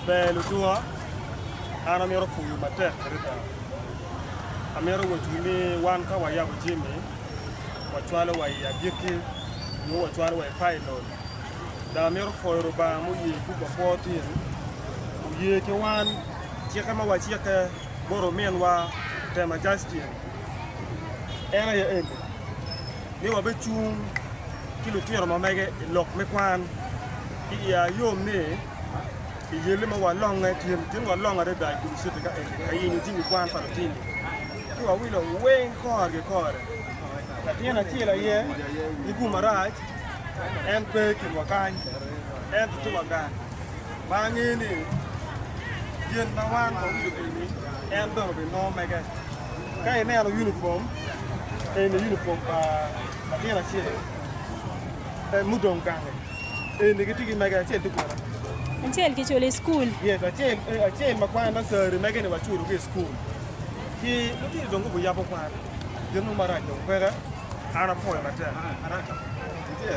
Ber lutunga, an amito puyu matek adada. Amito wecciwu ni wan ka wayabo jami, wacwalo wa i agikki nyo wacwalo wa i pailon. Dong amito pwoyo Lubanga muye buk pa kwo tin, oye ki wan cikke ma wacikke bot ominwa Tema Justin. En aye eni, ni wabecung ki lutino ma mege i lok me kwan. Ki i ayom ni, i yelli ma walonge tyen tyen walongo adada i kin citi ka eni ka yenyo jami kwan pa lutini, ci wawilo weng kore ki kore. Latin acel aye ni gu marac, en pe i kinwa kany, ento ci wagang ma angeyo ni gin ma wan wawilo pigi en bene obinongo mege. Ka ineno unifom, eni unifom pa latin acel-li, pe mudong gange. Eni gitye ki mege, acel tye kwena. Acel kiculo i cukul. Yes, acel, eh, acel ma kwana nasari, mege-ni waculogi i cukul. Ki lutino dong gubi yabo kwan. Gin mo marac dong peke. An apwoyo matek. Araka. Itye?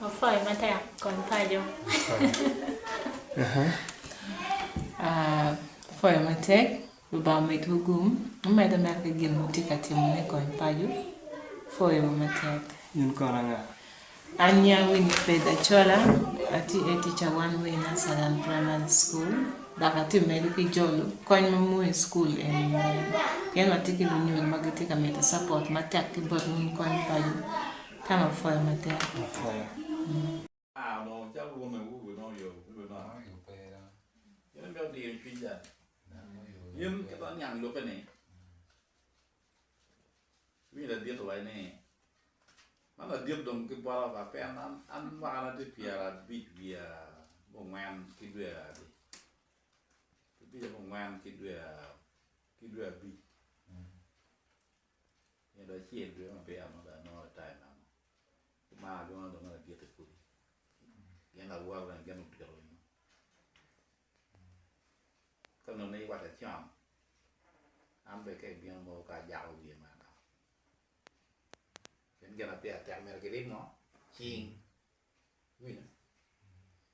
Wapwoyo matek kom paco. Wapwoyo matek Lubanga omedwu gum mumedo mere ki gin wutye ka timo me kony paco. Wapwoyo matek. In kono anga? An nya Winifred Achola, atye tica one way Nassaland Primary School. Dok atye ka medo ki jolo kony ma muu i cukul eni woko, pien watye ki lunyodo ma gitye ka mito capot matek ki bot wun kony paco. Tam apwoyo matek. Winyi ladit owaco ni, Man ladit dong ki bota ba pien an mwakana tye pyerabic wiye abongwen ki dwe adi, abic abongwen ki dwe ki dwe abic nyo dong acel dwe maber modo anongo ritai meno. Kumar adwongo adwonga lagit i kulu gin lawote bene gin odito winyo. Ka nonei i wat acam, an bene ka ibino mono ka ajako wiye ma adok. Pien gin ma pire tek myero kirib ngo? Cing. Iwinyo?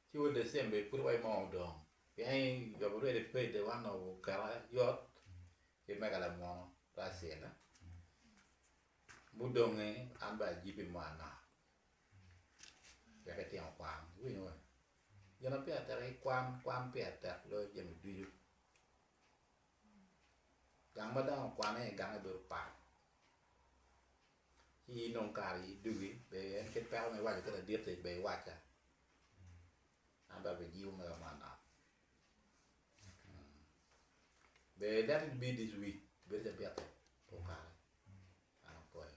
Ci wa December i pwod wa i moo dong. Pien yobo rwede pede wa nongo okelo yot ki mega lamwono Russell. Mudonge an bene ajibi mo anaka. Wek itino kwan. Iwinyo? Gin ma pire tek aye kwan, kwan pire tek loyo jami ducu. Gang ma dano okwane iye gange bedo pat, ci in dong kare aye dugi, ber en kit peko ma iwaco ki ladit-ti ber iwacca, an dong abijibo mega manok. Ber ilet in ibin this week ibedo ca bitti okato, an apwoyo.